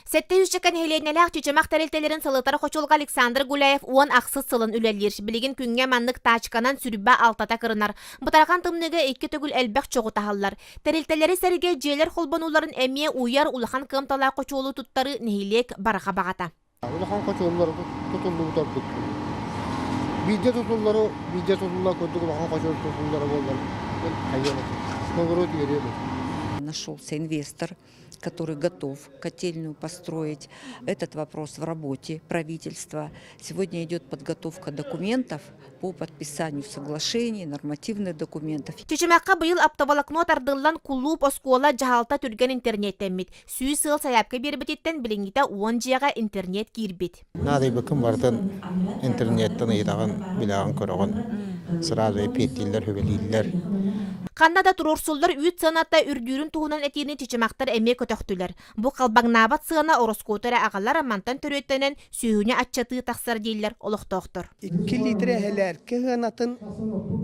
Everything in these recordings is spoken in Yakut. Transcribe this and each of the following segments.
Сэттэ сүүсчэкэ нэһилиэнньэлээх чычымах тэрилтэлэрин салытар хочуолуга Александр Гуляев уон ахсыс сылын үлэлиир. Билигин күҥҥэ маннык таачканан сүрбэ алтата кырынар. Бытархан тымныыга икки төгүл элбэх чоҕу таһаллар. Тэрилтэлэри сэргэ дьиэлэр холбонууларын эмиэ уйар улахан кыамталаах хочуолу туттарыы нэһилиэк барҕа баҕата. Улахан хочуоллар тутуллубутарбыт. Биирдэ тутуллары, биирдэ тутулла курдук улахан хочуол тутуллара буоллар, хайыам этэ. Норуот үөрүө Нашелся инвестор который готов котельную построить. Этот вопрос в работе правительства. Сегодня идет подготовка документов по подписанию соглашений, нормативных документов. Чечемахка быйыл аптоволокно тардыллан кулууп оскуола дьаһалта түргэн интернеттэммит. Сүүс сыл сайапка бербититтен билингите уон дьиэҕэ интернет киирбит. Наадыйбыккын барытын интернеттан ыйытаҕын, билэҕин-көрөҕүн. Сразу эпиэттииллэр, сүбэлииллэр. Ханна да туруорсуллар үүт сыаната үрдүүрүн туһунан этиини чычымахтар эмиэ көтөхтүлэр. Бу халбаҥнаабат сыана ороскуоту эрэ аҕалар мантан төрүөттэнэн сүүһүнү аччатыы тахсар дииллэр олохтоохтор. Икки литр эһэлээркэ сыанатын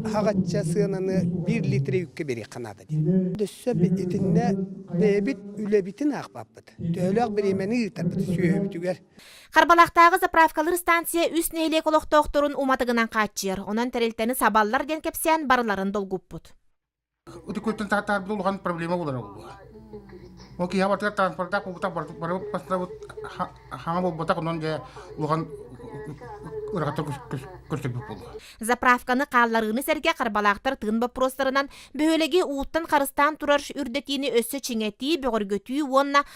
аҕачча сыананы биир литр үүккэ биэриэххэ наада диэн. Өссө итиннэ бэйэбит үлэбитин аахпаппыт. Төһөлөөх бириэмэни ыытарбыт сүөһүбүтүгэр Харбалахтааҕы заправкалыыр станция үс нэһилиэк олохтоохторун уматыгынан хааччыйар. Онон тэрилтэни сабаллар диэн кэпсээн барыларын долгуппут. Ытыкуйттан таатарбыт улахан проблема булара булуа. Ол киһи бартыгар транспорта кугута бары пастабыт хаҥа болбатах онон дьэ улахан Заправканы хаалларыыны сэргэ харбалаахтар тыын боппуруостарынан бөһүөлэги ууттан харыстаан турар үрдэтиини өссө чиҥэтии, бөҕөргөтүү уонна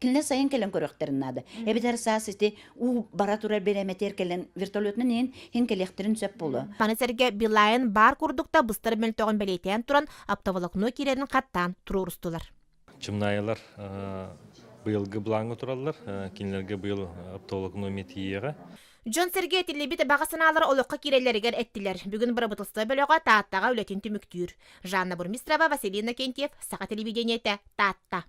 кинилэр сайын кэлэн көрүөхтэрин наада эбэтэр саас ити уу бара турар бэлэмэтэр кэлэн вертолетынан иһин хин кэлиэхтэрин сөп буолуо маны сэргэ билайын баар курдук да быстар мөлтөҕүн бэлиэтээн туран аптаволокно киирэрин хаттаан туруорустулар чымнаайылар быйылгы бланга тураллар кинилэрге быйыл аптоволокно метиеҕэ Дьон сэргэ этиллибит баҕа санаалар олоххо кирэллэригэр эттилэр. Бүгүн бырабытылыстыба бөлөҕө Тааттаҕа үлэтин түмүктүүр. Жанна Бурмистрова, Василина Кентьев, Саха телевидениете, Таатта.